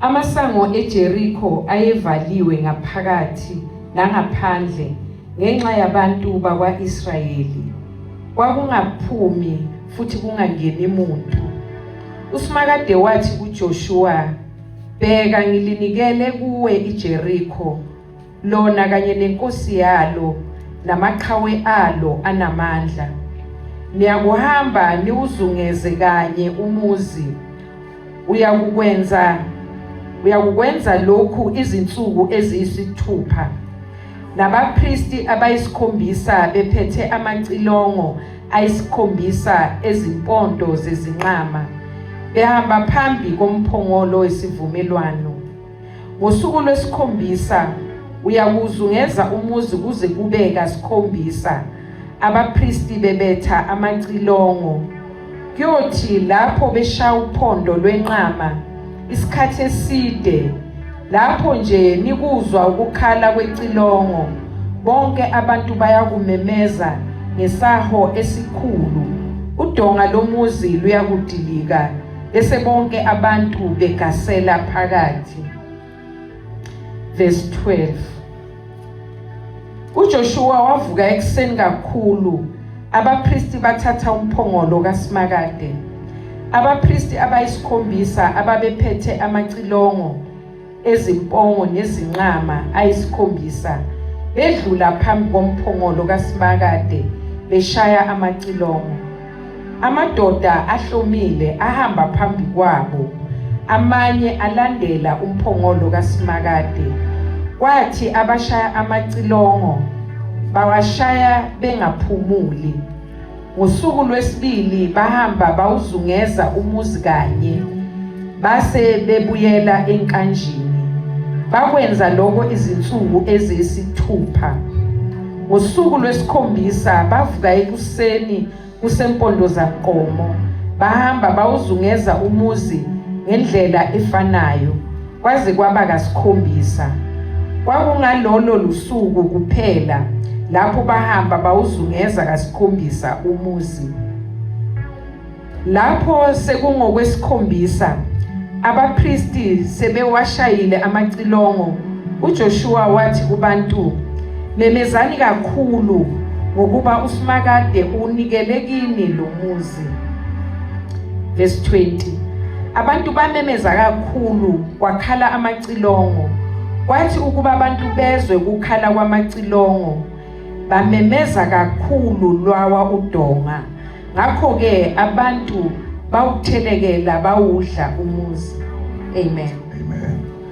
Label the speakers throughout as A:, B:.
A: Amasango eJeriko ayevaliwe ngaphakathi nangaphandle ngenxa yabantu bakwa-Israyeli. Kwakungaphumi futhi kungangeni muntu. USimakade wathi kuJoshuwa, "Bheka ngilinikele kuwe iJeriko lona kanye nenkosi yalo namaqhawe alo anamandla niyakuhamba niwuzungeze kanye umuzi uyakukwenza uyakukwenza lokhu izinsuku eziyisithupha nabapristi abayisikhombisa bephethe amacilongo ayisikhombisa ezimpondo zezinqama behamba phambi komphongolo wesivumelwano Ngosuku lwesikhombisa uyakuzungeza umuzi kuze kube kasikhombisa abapristi bebetha amacilongo kuyothi lapho beshaya uphondo lwenqama isikhathi eside lapho nje nikuzwa ukukhala kwecilongo bonke abantu bayakumemeza ngesaho esikhulu udonga lomuzi luyakudilika Bese bonke abantu begasela phakathi. Verse 12. UJoshua wavuka ekuseni kakhulu. Abapristi bathatha umphongolo kaSimakade. Abapristi abayisikhombisa ababephethe amacilongo ezimpongo nezinqama ayisikhombisa bedlula phambi komphongolo kaSimakade beshaya amacilongo amadoda ahlomile ahamba phambi kwabo amanye alandela umphongolo kaSimakade kwathi abashaya amacilongo bawashaya bengaphumuli Ngosuku lwesibili bahamba bawuzungeza umuzi kanye base bebuyela enkanjini. Bakwenza lokho izinsuku eziyisithupha. Ngosuku lwesikhombisa bavuka ekuseni kusempondo zaqomo bahamba bawuzungeza umuzi ngendlela efanayo. Kwaze kwaba kasikhombisa. Kwakungalolo lusuku kuphela lapho bahamba bawuzungeza kasikhombisa umuzi. Lapho sekungokwesikhombisa abapristi sebewashayile amacilongo uJoshua wathi kubantu memezani kakhulu ngokuba uSimakade unikele kini lo muzi. Verse 20 Abantu bamemeza kakhulu kwakhala amacilongo kwathi ukuba abantu bezwe ukukhala kwamacilongo bamemeza kakhulu lwawa udonga ngakho ke abantu bawuthelekela bawudla umuzi amen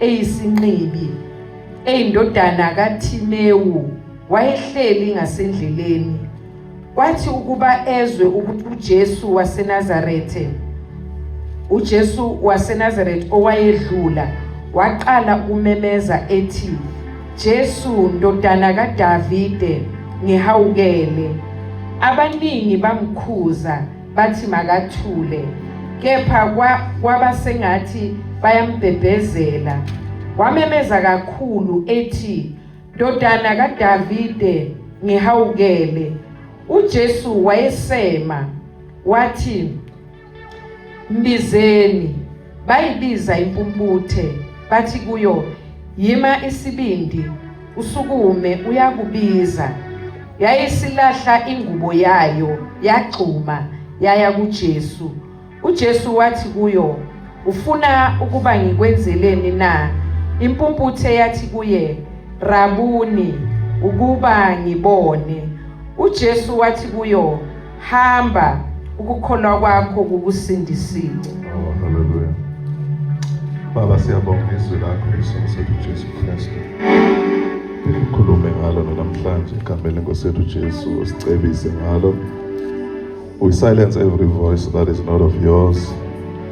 A: eyisinqibi eyindodana kaThimewu wayehleli ngasendleleni kwathi ukuba ezwe ukuthi uJesu waseNazarethe uJesu waseNazarethe owayedlula waqala ukumemeza ethi Jesu ndodana kaDavide ngihawukele abaningi bamkhuza bathi makathule kepha kwaba sengathi bayambhebhezela wamemeza kakhulu ethi ndodana kaDavide ngihawukele uJesu wayesema wathi mbizeni Bayibiza impumputhe bathi kuyo, Yima isibindi, usukume uyakubiza. Yayisilahla ingubo yayo, yagxuma, yaya kuJesu. UJesu wathi kuyo, Ufuna ukuba ngikwenzeleni na? Impumputhe yathi kuye, Rabuni, ukuba ngibone. UJesu wathi kuyo, hamba ukukholwa kwakho kukusindisile Oh,
B: hallelujah. Baba siyabonga izwi lakho isimo sethu Jesu Kristu. Ukhulume ngalo namhlanje egameni lenkosi yethu Jesu usicebise ngalo. We silence every voice that is not of yours.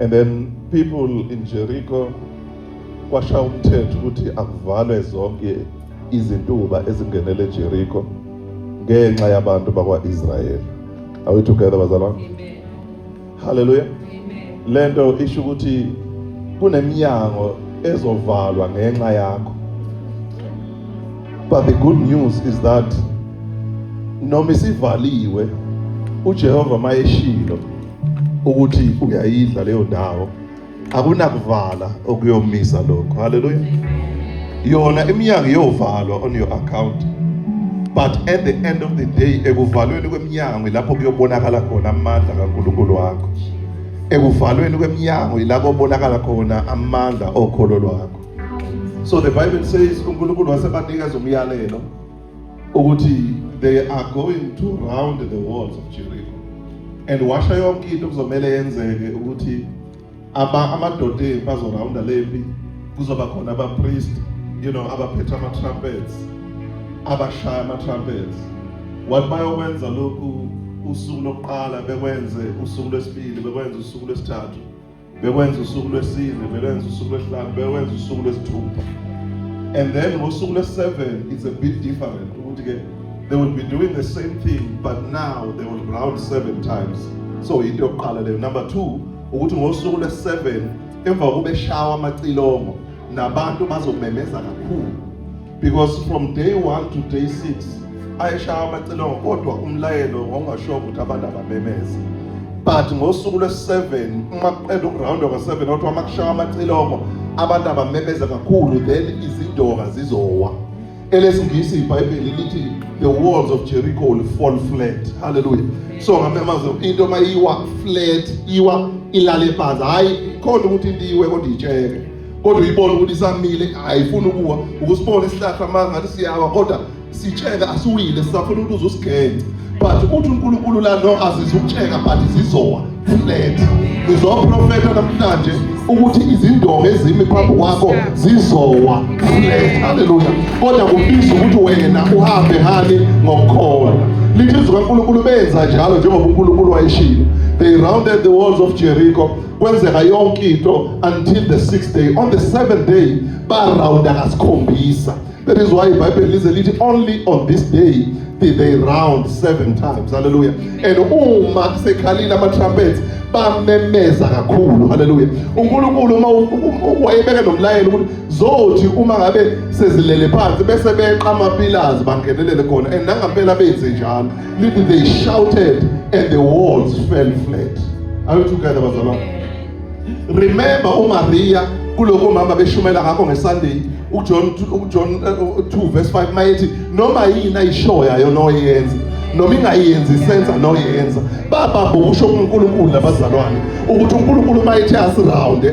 B: And then people in Jericho kwasha umthetho ukuthi akuvalwe zonke izintuba ezingenele eJericho ngenxa yabantu bakwa-Israyeli. Are we together bazalwane? Amen. Hallelujah. Amen. Lento isho ukuthi kuneminyango ezovalwa ngenxa yakho. But the good news is that noma isivaliwe uJehova mayeshilo ukuthi uyayidla leyo ndawo akunakuvala okuyomisa lokho haleluya yona iminyango iyovalwa on your account but at the end of the day ekuvalweni kweminyango ilapho kuyobonakala khona amandla kaNkulunkulu wakho ekuvalweni kweminyango ilapho obonakala khona amandla okholo lwakho so the bible says uNkulunkulu wasebanikeza umyalelo ukuthi they are going to round the walls of Jericho and washa yonke into kuzomele yenzeke ukuthi aba amadoda empi azorawunda lempi kuzoba khona abapriest you know abaphethe ama-trumpets abashaya ama-trumpets what bayokwenza lokhu usuku lokuqala bekwenze usuku lwesibili bekwenze usuku lwesithathu bekwenza usuku lwesine bekwenza usuku lwesihlanu bekwenza usuku lwesithupha and then ngosuku lwesi-seven it's a bit different ukuthi ke they will be doing the same thing but now they will round seven times so yinto yokuqala leyo number two ukuthi ngosuku lwesi-seven emva kokuba eshawa amacilongo nabantu bazomemeza kakhulu because from day 1 to day 6 ayeshaya amacilongo kodwa umlayelo wawungasho ukuthi abantu abamemeze but ngosuku lwesi-7 uma kuqeda ukurawunda kwa-7 kodwa uma kushaya amacilongo abantu abamemeze kakhulu then izindoka zizowa elesingisi ibhayibheli lithi the walls of jericho will fall flat halleluya so ngamemaze into uma iwa flat iwa ilale phansi hhayi khona ukuthi into iwe kodwa itsheke kodwa uyibona ukuthi isamile ayifuni ukuwa ukusibona isihlahla manje ngathi siyawa kodwa sitsheka asiwile sisafuna ukuthi uzusigenge but uthi uNkulunkulu la no azizukutsheka but zizowa flat ngizoprofeta namhlanje ukuthi izindonga ezimi phambi kwakho zizowa flat haleluya kodwa kubiza ukuthi wena uhambe ngani ngokukholwa lithi izwi kaNkulunkulu benza njalo njengoba uNkulunkulu wayeshilo they rounded the walls of Jericho kwenzeka yonke into until the sixth day on the seventh day barawunda kasikhombisa that is why ibhayibheli lize lithi only on this day did they round seven times haleluya and uma sekhalile ama-trumpets bamemeza kakhulu haleluya unkulunkulu uma wayebeke nomlayelo ukuthi zothi uma ngabe sezilele phansi bese beqa amapilazi bangenelele khona and nangampela benze njalo Lithi they shouted and the walls fell flat. Are you together bazalwane? Remember uMaria kuloko mama beshumela ngakho ngeSunday uJohn uJohn 2 eh, verse 5 mayethi noma yini ayishoya yona oyenza noma
C: ingayenzi isenza noyenza baba busho uNkulunkulu nabazalwane ukuthi uNkulunkulu mayethe asiround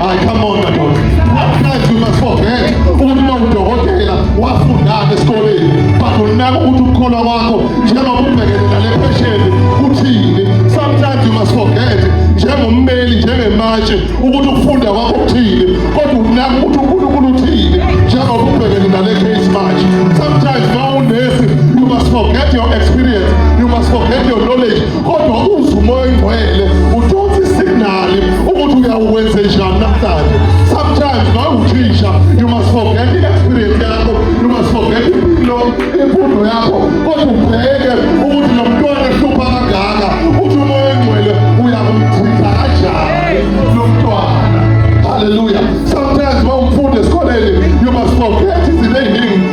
C: Ay, come on, Madonna. Sometimes you must forget uma udokotela wafundana esikoleni but unaka ukuthi ukukholwa kwakho njengoba ubhekene nale phesheni kuthini sometimes you must forget njengommeli njengematshe ukuthi ukufunda kwakho kuthini kodwa unaka ukuthi unkulunkulu uthini njengoba ubhekene nale case manje sometimes ma unesi you must forget your experience you must forget your knowledge kodwa uze umoya oyingcwele ukuthi uyawukwenze njani namhlanje sometimes mawuthisha you must forget the experience yakho you must forget impilo imfundo yakho kodwa ubheke ukuthi lo mntwana ehlupha kangaka uthi umoya engcwele uyakumchitha kanjani lo mntwana haleluya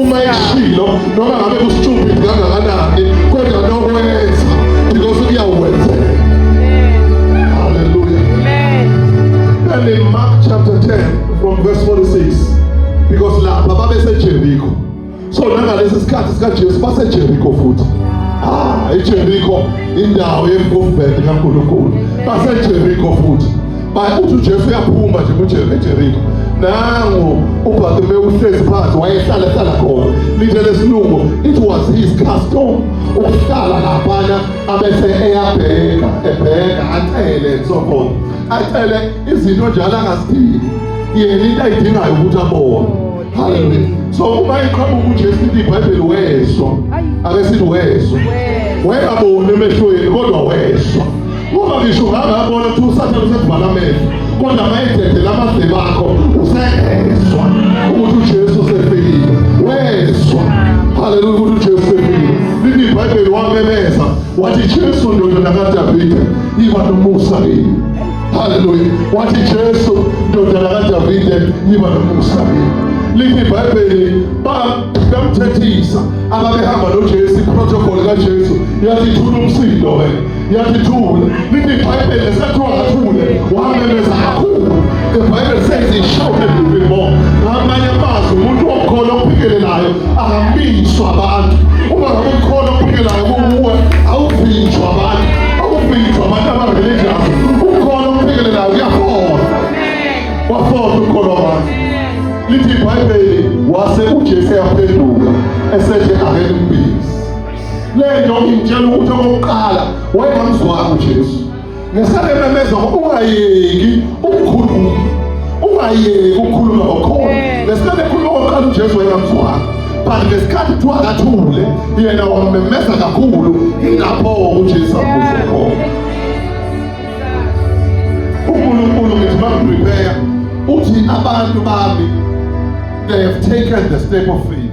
C: uma eshilo noma ngabe kustupid kangakanani kodwa nokwenza because kuyakwenzeka haleluya and in mark chapter 10 from verse 46 because lapha babesejeriko so nangalesi sikhathi sikajesu basejeriko futhi ah ijeriko indawo yemkofubhede kankulunkulu basejeriko futhi Uthi uJesu uyaphuma nje kujele eJeriko. Nangu uBhakime uhlezi phansi wayehlala ehlala khona. Lithe lesilungu it was his custom ukuhlala laphana abese eyabheka ebheka acele and so forth. Acele izinto njalo angazidingi. Yena into ayidingayo ukuthi abone. Hallelujah. So uma iqhamuka uJesu lithi iBhayibheli wezwa. Ake sithi wezwa. Wayengaboni emehlweni kodwa wezwa. Uma ngisho ungangabona ukuthi usathane usevala amehlo kodwa mayedede lamaze bakho usezwa ukuthi uJesu usefikile wezwa haleluya ukuthi uJesu usefikile lithi ibhayibheli wamemeza wathi Jesu ndodana kaDavide iba nomusa kimi haleluya wathi Jesu ndodana kaDavide iba nomusa kimi lithi ibhayibheli bamthethisa ababehamba noJesu iprotocol kaJesu yathi thula umsindo wena Yathule. Lithi iBhayibheli lesathiwa ngathule. Wamemeza kakhulu. The Bible says he shouted even more. Ngamanye amazwi umuntu okhona ophikelelayo akamiswa abantu. Uma ngabe ukhona ophikelelayo kuwe awuvinjwa abantu. Awuvinjwa abantu abareligious. Ukhona ophikelelayo uyafola. Wafola ukhona abantu. Lithi iBhayibheli wase uJesu yaphenduka esethe ake limbili. Le nto ingitshela ukuthi okokuqala wayengamzwanga uJesu. Ngesalememeza ungayeki ukukhuluma. Ungayeki ukukhuluma ngokhona. Ngesikhathi ekhuluma okokuqala uJesu wayengamzwanga. But ngesikhathi kuthiwa akathule yena wamemeza kakhulu ilapho uJesu amuzwa khona. UNkulunkulu ngithi bakuprepare uthi abantu bami they have taken the step of faith.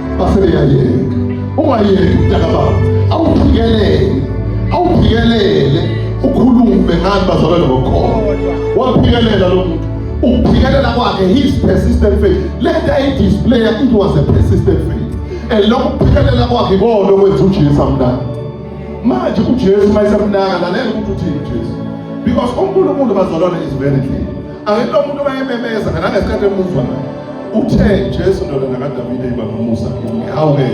C: basebeyayeka ungayeki mntaka baba awuphikelele awuphikelele ukhulume ngani bazalwane ngokhona waphikelela lo muntu ukuphikelela kwakhe his persistent faith le nto ayidisplaya it was a persistent faith and lokhu kuphikelela kwakhe ikona okwenza ujesu amnaka manje ujesu uma esemnaka lalela ukuthi uthini ujesu because unkulunkulu bazalwane is very clear Angithi lo muntu mayememeza kana ngesikhathi emuzwa naye. Uthe Jesu ndodana kaDavide yiba nomusa kimi. Hawu ke.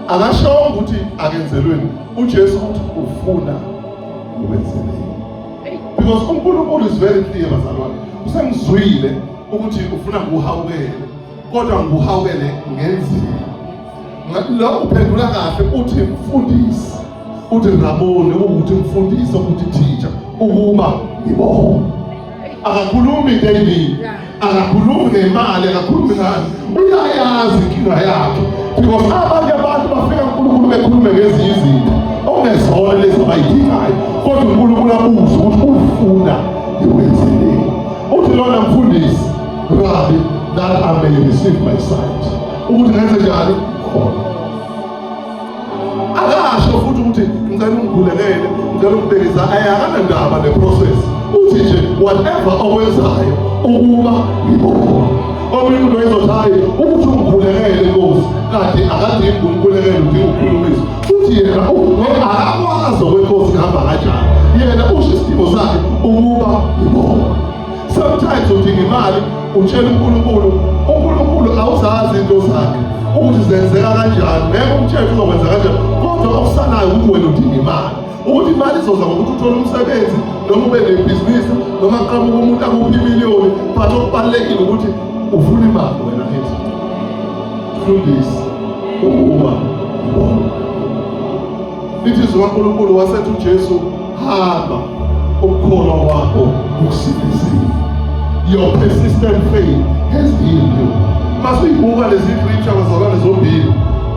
C: Akashongo ukuthi akenzelweni. UJesu uthi ufuna ukwenzelweni. Because uNkulunkulu is very clear bazalwane. Usemzwile ukuthi ufuna kuhawukela. kodwa nguhawukele ngenzima. Lo uphendula kahle uthi mfundisi, uthi ngaboni ukuthi mfundisi ukuthi teacher ukuba ngibona. Akakhulumi David, akakhulumi ngemali, akakhulumi ngani. Uyayazi inkinga yakhe because abanye abantu bafika uNkulunkulu bekhulume ngezinye izinto okungezona lezi abayidingayo, kodwa uNkulunkulu abuze ukuthi ufuna iwenzeleni. Uthi lona mfundisi Rabbi, that I may receive my sight. Ukuthi ngenze njani? Khona. Akasho futhi ukuthi ngicela ungigulekele, ngicela ungibekisa, akanandaba ne process. Uthi nje whatever owenzayo ukuba ngibona. Omunye umuntu wayezothayi ukuthi ungigulekele Nkosi, kanti akadingi ukumgulekela udinga ukukhulumisa. Futhi yena akakwazi okwenkosi kuhamba kanjani. Yena usho isidingo sakhe ukuba ngibona. sometimes udinga imali utshela uNkulunkulu uNkulunkulu awuzazi into zakhe ukuthi zenzeka kanjani ngeke umthetho uzokwenza kanjani kodwa okusanayo ukuthi wena udinga imali ukuthi imali izoza ngokuthi uthole umsebenzi noma ube nebhizinisi noma qhamuka umuntu akuphi imiliyoni but okubalulekile ukuthi ufuna imali wena ethi fundisi ukuba ngibona lithi zikankulunkulu wasethi ujesu hamba ukukholwa kwakho kukusindisile your persistent faith has healed you masuyibuka lezi scripture bazalwane zombili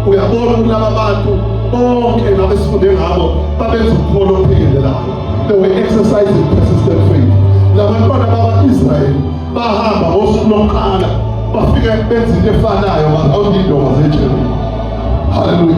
C: uyabona ukuthi laba bantu bonke nabesifunde ngabo babenza ukukholo ophikelelayo they were exercising persistent faith labantwana bakwa-israyeli bahamba ngosuku lokuqala bafike benza into efanayo bazawulindoka zetsheni haleluya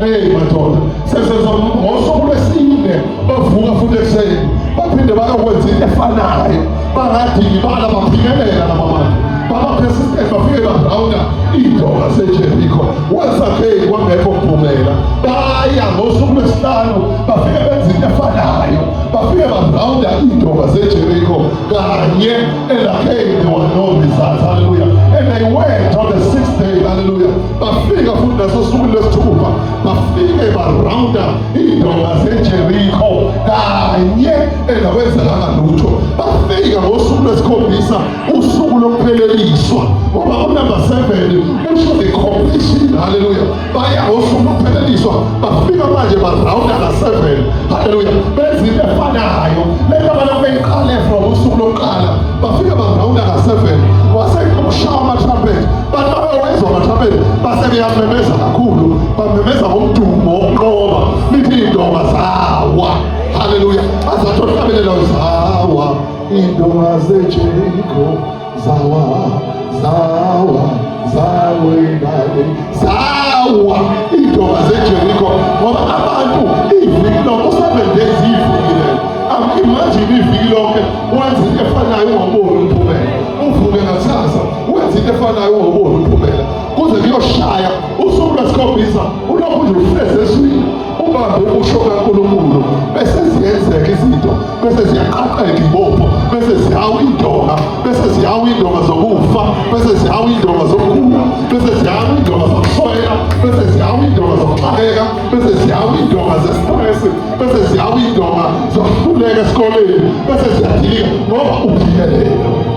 C: Hey madoda, seseza ngosuku lwesine bavuka futhi ekuseni baphinde bayokwenza into efanayo, bangadingi bala baphingelela laba bantu babaphesisiteni bafike bagrawunda iindoda sejerikho wasakheki kwangekho kuphumela baya ngosuku lwesihlanu bafike benza into efanayo bafike bagrawunda iindoda sejerikho kanye elakheki they were no results hallelujah and they went on the sixth day hallelujah bafika futhi nasosukwini lwesithupha bafike barawunda iindonga zejerikho kanye engakwenzekanga lutho bafika ngosuku lwesikhombisa usuku lokupheleliswa ngoba unumber seven usho the completion halleluya baya ngosuku lokupheleliswa bafika manje barawunda ka-seven halleluya benza into efanayo le nto abantu beyiqale from usuku lokuqala bafika barawunda ka-seven wasekushawa amatrumpet Abezwa amathabeni base beyamemeza kakhulu, bamemeza ngomdumo wokunqoba, lithi iy'ndonga zawa. Haleluya! Azathi ohlabelela zawa, iy'ndonga zeJeriko zawa, zawa, zawa ingane, zawa iy'ndonga zeJeriko ngoba abantu iviki lonke usebenzeza iviki lelo. Imagine iviki lonke wenza into efanayo ungaboni umphumela, uvuke ngakusasa wenza into efanayo ungaboni umphumela kuze kuyoshaya usuku lwesikhombisa ulokhu nje ufeze eswini ubambe ukusho kankulunkulu bese ziyenzeka izinto bese ziyaqaqeka ibopho bese zihawu indonga bese zihawu indonga zokufa bese zihawu indonga zokugula bese zihawu indonga zokuswela bese zihawu indonga zokuxakeka bese zihawu indonga zestress bese zihawu indonga zokuhluleka esikoleni bese ziyadilika ngoba uphilelele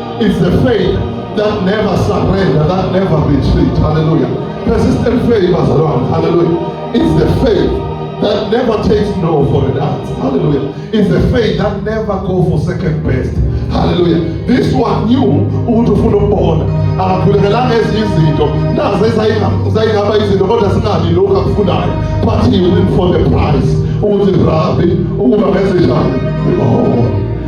C: It's the faith that never surrender, that never retreat. Hallelujah. Persistent faith, Bazalwane. Hallelujah. It's the faith that never takes no for an answer. Hallelujah. It's the faith that never go for second best. Hallelujah. This one knew ukuthi ufuna ukubona. Akakhulekelanga ezinye izinto. Nazo ezayingaba izinto kodwa singabi lokhu akufunayo. But he went for the prize. Ukuthi Rabbi, ukuba ngezinjani? Oh.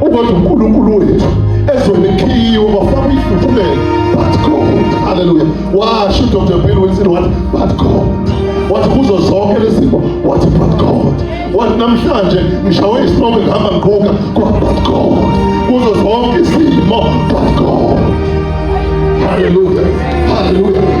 C: Uma uNkulunkulu wethu ezonikhiwa bafaka ifuthumele but God hallelujah washo uDr Bill Wilson wathi but God wathi kuzo zonke lezimo wathi but God wathi namhlanje ngishawe isonke ngihamba ngiqhuka kwa but God kuzo zonke izimo but God hallelujah hallelujah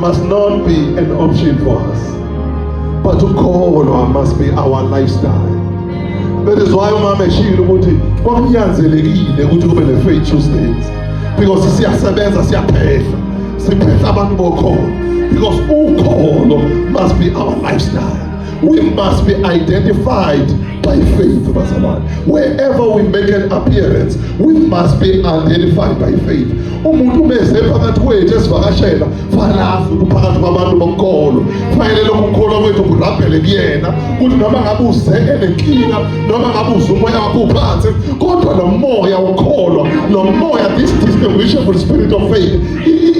C: must not be an option for us but to call or must be our lifestyle that is why umama eshilo ukuthi kwakunyanzelekile ukuthi kube ne faith Tuesdays because siyasebenza siyaphehla siphehla abantu bokhona because ukholo must be our lifestyle we must be identified by faith bazalwane wherever we make an appearance we must be identified by faith umuntu umeze phakathi kwethu esivakashela fanazi kuphakathi kwabantu bonkolo fanele lokhu kukholwa kwethu kurabhele kuyena ukuthi noma ngabe uze enenkinga noma ngabe uze umoya wakho uphansi kodwa lo moya ukholwa lo moya this distinguishable spirit of faith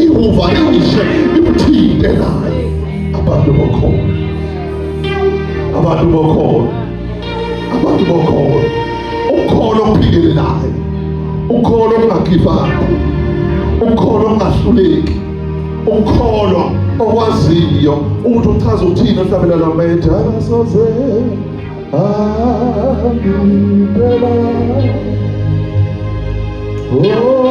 C: iwuvarishe imthinte naye abantu bokholo abantu bokholo abantu bokholo ukholo ophikelelayo ukholo ongakhiphayo ukholo ongahluleki ukholo okwaziyo ukuthi uchaza uthini ohlabela la mede akasoze angiphela Oh,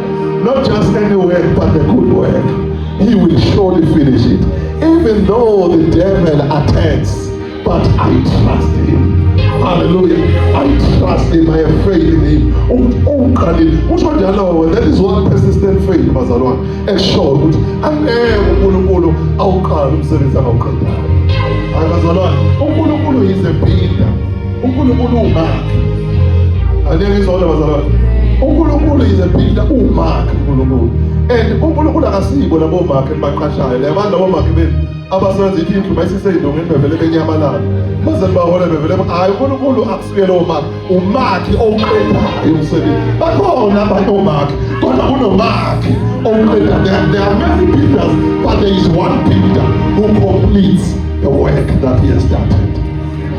C: Not just any work, but the good work. He will surely finish it. Even though the devil attacks, but I trust him. Hallelujah. I trust him. I have faith in him. Ungiqalile. Kusho njalo that is one persistent faith bazalwane. Eshoyo ukuthi angeke uNkulunkulu awuqale umsebenzi akawuqedanga. Hayi bazalwane, uNkulunkulu is a builder. uNkulunkulu umakhe angeke izona bazalwane uNkulunkulu is a builder umakhe uNkulunkulu and uNkulunkulu akasibo labo makhe baqashayo labo labo makhe benu abasebenza ithi indlu bayisiseyindongo bevele benyamalala baze bahole bevele hayi uNkulunkulu akusuye lowo makhe umakhe owuqedayo umsebenzi bakhona abantu omakhe kodwa kunomakhe owuqedayo there are many builders but there is one builder who completes the work that he has started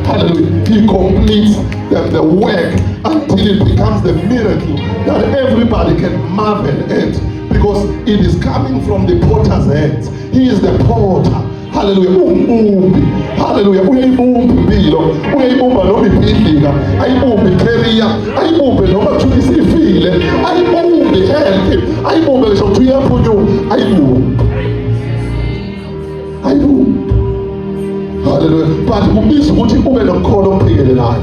C: Hallelujah. He completes the, the work until it becomes the miracle that everybody can marvel at because it is coming from the potter's hands. He is the potter. haleluya uwumbumbi haleluya uyayibumba impilo uyayibumba noma ibhidlika ayibumbe ikeriya ayibumbe noma kuthiwa isifile ayibumbe health ayibumbe ngisho kuthiwa iyaphunyuka ayibumbe ayiphumi haleluya but kubiza ukuthi ube nomkholo ophikelelayo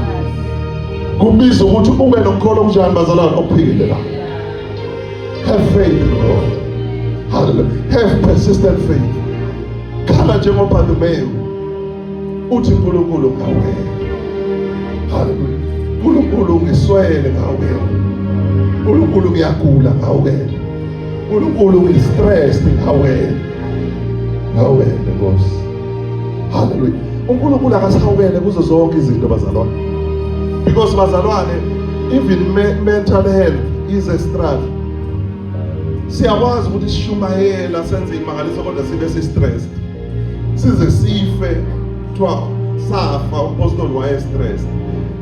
C: kubiza ukuthi ube nomkholo omnjani bazalwane ophikelelayo have faith in God haleluya have persistent faith khala njengoba Dumeyu uthi uNkulunkulu ngawe haleluya uNkulunkulu ngiswele ngawe uNkulunkulu ngiyagula ngawe uNkulunkulu ngistressed ngawe Ngawele Nkosi. Hallelujah. uNkulunkulu akasawele kuzo zonke izinto bazalwane because bazalwane even me mental health is a struggle siyakwazi ukuthi sishumayela senze imangaliso kodwa sibe si-stressed size sife kuthiwa safa umpostoli waye-stressed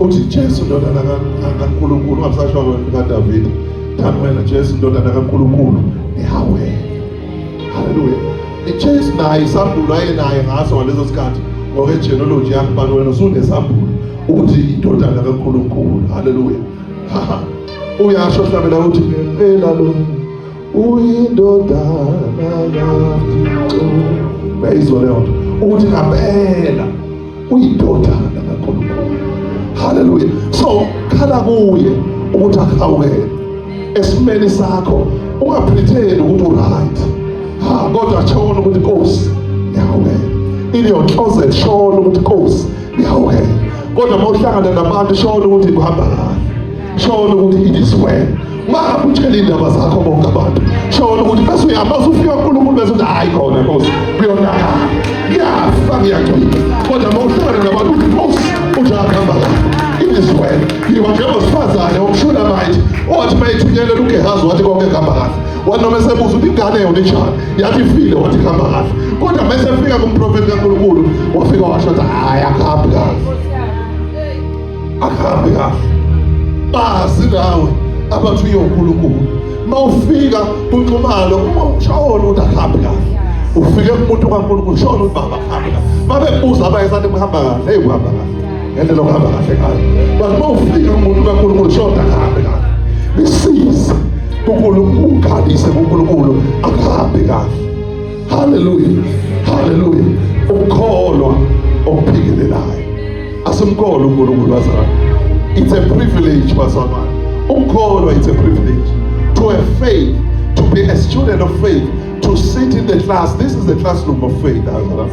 C: uthi Jesu ndodana kaNkulunkulu ungasasho wena kaDavid thani wena Jesu ndodana kaNkulunkulu ihawe haleluya iChase naye isambulo ayenaye ngaso ngaleso sikhathi ngokwegenealogy yakhe bani wena usunesambulo ukuthi indodana kaNkulunkulu haleluya uyasho hlabela ukuthi ngempela lo uyindodana kaNkulunkulu bayizwa leyo nto ukuthi ngempela uyindodana kaNkulunkulu haleluya so khala kuye ukuthi akuhawukele esimeni sakho ungaphitheni ukuthi uright ha kodwa shona ukuthi nkosi ngiyahawukela in your closet shona ukuthi nkosi ngiyahawukela kodwa uma uhlangana nabantu shona ukuthi kuhamba kahle shona ukuthi it is well mara utshele indaba zakho bonke abantu shona ukuthi bese uyamazi ufika uNkulunkulu bese uthi hayi khona Nkosi kuyonaka ngiyafa ngiyagcina kodwa uma uhlangana nabantu uthi Nkosi ujakhamba it is well yiwa njengosifazane omshula manje owathi uma ethunyelele uGehazi wathi konke kuhamba kahle wathi noma esebuza ukuthi ingane yona injani yathi ifile wathi kuhamba kahle kodwa uma esefika kumprofethi kaNkulunkulu wafika washo ukuthi hayi akuhambi kahle akuhambi kahle bazi nawe abathi uyonkulunkulu mawufika kunxumalo uma ushawona ukuthi akuhambi kahle ufike kumuntu kaNkulunkulu shona ukuthi baba khamba babe buza abayesana kuhamba kahle hey kuhamba kahle ngendlela okuhamba kahle ngayo but uma ufika kumuntu kaNkulunkulu shona kahambe kahle bisize kuNkulunkulu ukhalise kuNkulunkulu akuhambe kahle haleluya haleluya ukukholwa okuphikelelayo asimkholwa unkulunkulu wazalwa it's a privilege bazalwane ukukholwa it's a privilege to have faith to be a student of faith to sit in the class this is the classroom of faith azalwane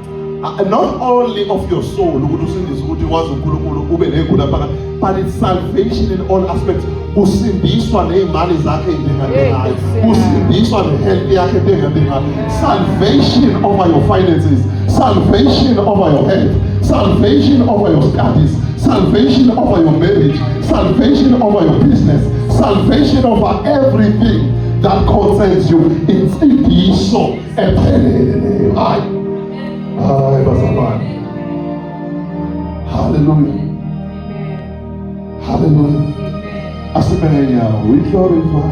C: Uh, not only of your soul ukuthi usindise ukuthi wazi uNkulunkulu ube negula phaka but it's salvation in all aspects kusindiswa nezimali zakhe endengadengayo kusindiswa nehealth yakhe endengadengayo salvation over your finances salvation over your health salvation over your studies salvation over your marriage salvation over your business salvation over everything that concerns you insindiso ephelele leyo. Hayi, hayi bazalwane, haleluya, haleluya, asimele nyawo, we glorify